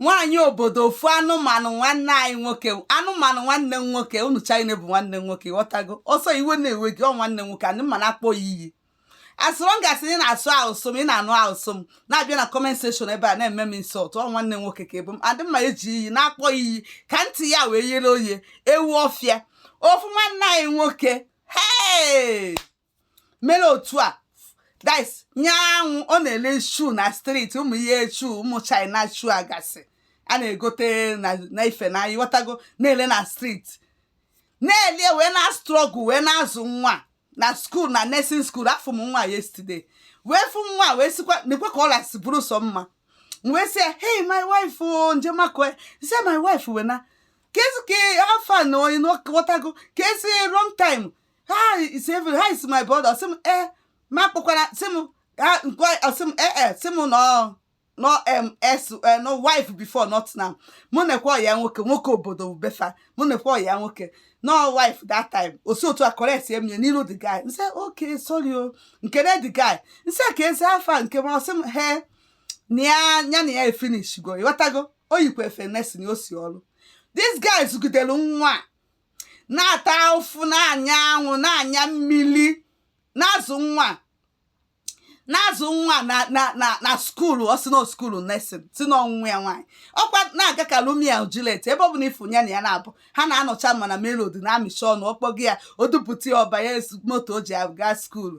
nwaanyị obodo ofu anụmanụ nwanne anyị nwoke anụmanụ nwanne m nwoke unu china bụ nwanne m nwoke ịghọtago ọ sọ iwe na-ewe gị ọ nwanne m nwoke and m ma na-akpọ ya iyi as long as ị na-asụ asụsụ m ị na-anụ asụsụ m na-abịa na comment section ebe a na-eme m insult ọ nwanne m nwoke ka ị bụ and m ma eji iyi na-akpọ iyi ka ntị ya wee yere oye ewu ọfịa ofu nwanne anyị nwoke hee mere otu a guys nya anwụ ọ na-ele shoe na street ụmụ ihe shoe ụmụ china shoe agasị a na-egote na ife na ịghọtago na-ele na street na-ele wee na struggle wee na-azụ nwa na school na nursing school afụ m nwa yesterday wee fụ nwa wee sikwa nekwa ka ọ lasị bụrụ sọ mma wee sị hey my wife o oh, nje makụọ ya sị my wife wee na kezi how far now ịghọtago kezi long time how is even how is my brother sị m e eh, ma kpọkwara sị m ha nke ọ sị m ee eh, eh, sị m nọ nọ ms na ọ wife before not now mụ nekwa ọyị ya nwoke nwoke obodo be fa mụ nekwa ọyị ya nwoke na ọ wife that time o si otu a correctie m n'iru the guy nsị okay sorry o nke na the guy nsị kezi how far nke m ọ sị m he na ya ya na ya efinishigo ịghọtago o yikwa efe nurse na o si ọrụ this guy zụgidere nwa na-ata afụfụ na-anya anwụ na-anya mmiri na-azụ nwa na-azụ nwa na na na na skuulu ọ sị na skuulu nursing sị na ọ nwunye ya nwaanyị ọkwa na-aga ka Romeo na Juliet ebe ọ bụla ị fụ ya na ya na-abụ ha na-anọcha ma na melody na-amịcha ọnụ ọ kpọgo ya o dupụta ya ọ banye moto o ji aga skuulu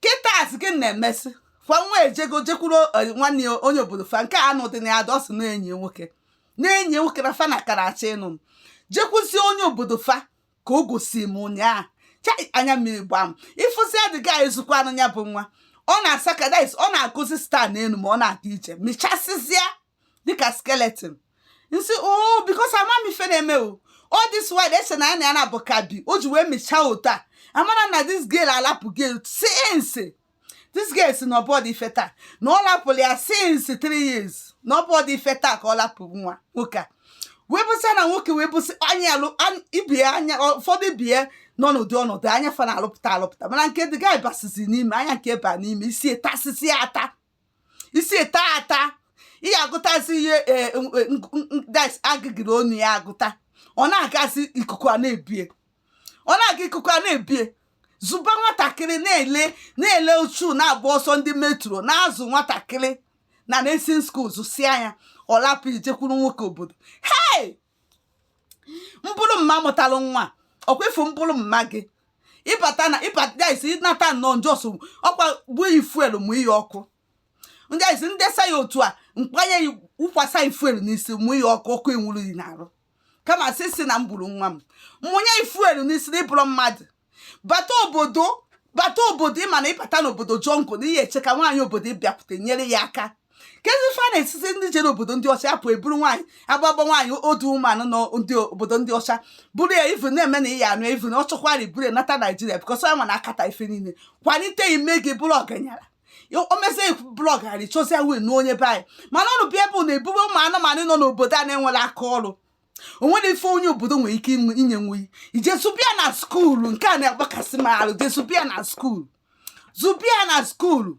kịta gị na-emesị fa nwa ejego jekwuru eh, nwanne ya onye obodo fa nke anụ dị na ya ọ sị na enyi nwoke na enyi nwoke na fa na kara achọ ịnụ m jekwuzie onye obodo fa ka o gosi m ụnyaahụ chai anya mmiri gbaa m ịfụzi ya dịga ezukwa anụ ya bụ nwa ọ na-asa ka dis ọ na-akụzi star n'elu ma ọ na-aga ije mechasịzịa dịka skeleton nsị o oh, because ama m ife na-eme o all this while a sị na ya na ya na bụkabi o ji wee mechaa otu a amara na this girl alapụ guy since this girl sị na ọ bụrọdụ ife taa na ọ lapụrụ ya since three years na ọ bụrọdụ ife taa ka ọ lapụ nwa nwoke a wee bụsị na nwoke wee bụsị anya ibie anya ụfọdụ bie nọ n'ụdị ọnọdụ anya fa na-alụpụta alụpụta mana nke dịga ịbasizi n'ime anya nke ba n'ime isi tasisi ata isi taa ata ị ya-agụtazi ihe e, e, agịgịrị onu ya agụta ọ na-agazi ikuku a na-ebu ya ọ na-aga ikuku a na-ebu ya zụba nwatakịrị na-ele na-ele shoe na-agba ọsọ ndị metro na-azụ nwatakịrị na nursing school zụsịa ya ọ lapụ gị jekwuru nwoke obodo hei m bụrụ mama mụtalụ nwa ọkwa ịfụ m bụrụ mama gị ịbata na ịbata isi ịnata nnọọ m just ọkwa gbuo yi fuel mụ yi ọkụ ndị isi ndesa ya otu a m kpanye ya wụkwasa yi fuel n'isi mụ yi ọkụ ọkụ enwuru yi n'arụ kama sị si na m gburu nwa m mụnye yi fuel n'isi na ịbụrụ mmadụ bata obodo bata obodo ịma na ịbata n'obodo jọngụ na ihe eche ka nwaanyị obodo ịbịakwute nyere ya aka kezi ife a na-esite ndị jere obodo ndị ọcha apụ eburu nwaanyị agbagba nwaanyị odu ụmụ anụ nọ ndị obodo ndị ọcha buru ya ivu na-eme na ịya anụ ivu na ọ chọkwara iburu ya nata naijiria because ya nwa na-akata ife niile kwalite ime gị bụrụ ọganyara o mezie blọg ghara ịchọzi ya wee n'onye be anyị mana ọnụ bịa bụ na ebube ụmụ anụmanụ nọ n'obodo a na-enwere aka ọrụ o nwere ife onye obodo nwere ike inye nwa i je zụba ya na skuulu nke a na-agbakasị m arụ je zụba ya na skuulu zụba ya na skuulu